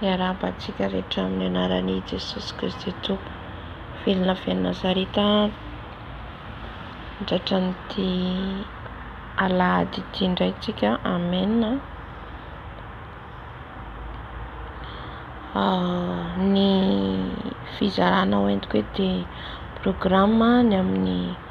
Miarahaba antsika rehetra amin'ny anaran'i Jesosy Kristy Tompo. Velona avy any Nazareta tratran'ity alahady ity indray tsika. Amen. Ah, ny fizarana ho entiko hoe dia programme ny amin'ny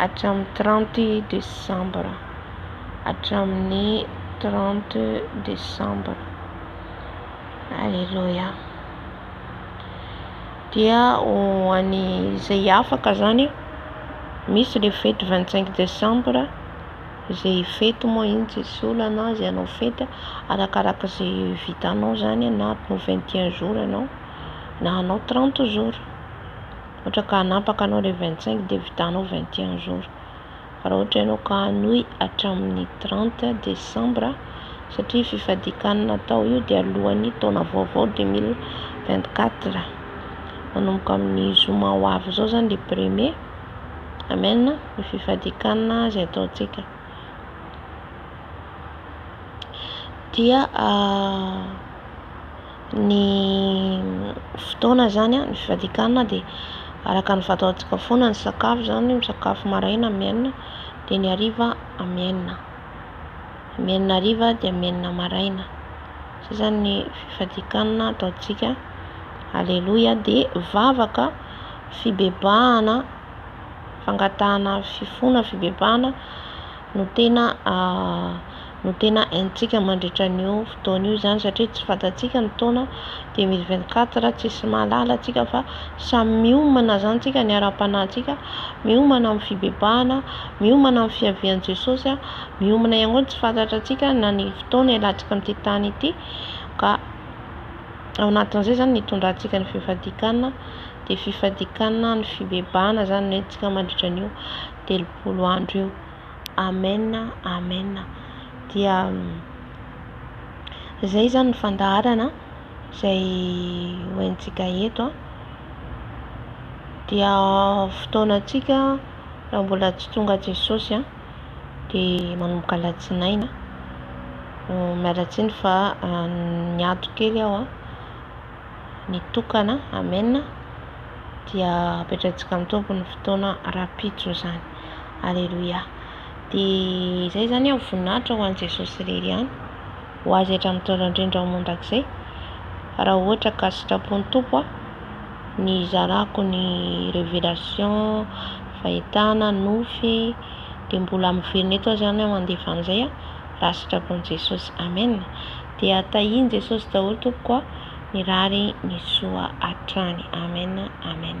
hatramin'ny trente desambra, hatramin'ny trente desambra. Aleloia. Dia ho an'ny izay afaka zany misy le fety vingt cinq desambra izay fety moa iny tsy misy olana izay hanao fety arakaraka izay vitanao zany na atao vingt et un jour ianao. na hanao trente jours ohatra ka hanapaka anao le vingt cinq de vitanao vingt et un jours fa raha ohatra ianao ka hanohy hatramin'ny trente décembre satria fifadikanana atao io dia alohan'ny taona vaovao deux mille vingt quatre manomboka amin'ny zoma ho avy izao zany le premier amen ny fifadikanana izay ataontsika dia Ny fotoana izany an, ny fivadian-kanina dia araka ny fataontsika foana ny sakafo izany, misakafo maraina amin'ny enina, dia ny hariva amin'ny enina, amin'ny enina hariva dia amin'ny enina maraina, izay izany ny fivadian-kanina ataontsika, aleloia, dia vavaka, fibebahana, fangatahana fifoana, fibebahana no tena. no tena haintsika mandritra an'io fotoana io izany satria tsy fantatsika ny taona deux mille vingt quatre tsisy mahalala antsika fa samy miomana izany tsika ny ara-panahintsika miomana amin'ny fibebahana miomana amin'ny fiavian'i Jesosy a miomana ihany koa ny tsy fantatra antsika na ny fotoana hialantsika amin'ity tany ity ka ao anatin'izay izany nitondrantsika ny fifadikanana dia fifadikanana ny fibebahana izany no haintsika mandritra an'io telopolo andro io Amen Amen dia zay zany ny fandaharana izay hoentintsika eto a dia fotoanantsika raha mbola tsy tonga Jesosy a dia manomboka alatsinainy miala tsiny fa niato kely aho a. ny tokana amen dia apetraintsika amin'ny tompo ny fotoana rapitso izany aleloia dia izay zany aho voninahitra ho an'i jesosy irery ihany ho azy hatramin'ny taona indrindra ho mandrakizay raha ohatra ka sitrapon'ny tompo aho ny hizarako ny révélation fahitana nofy dia mbola miverina eto aho zany aho mandefa an'izay aho raha sitrapon'i jesosy amen Dia tahian'i Jesosy daholo tompoko a! Mirary ny soa hatrany. Amen Amen.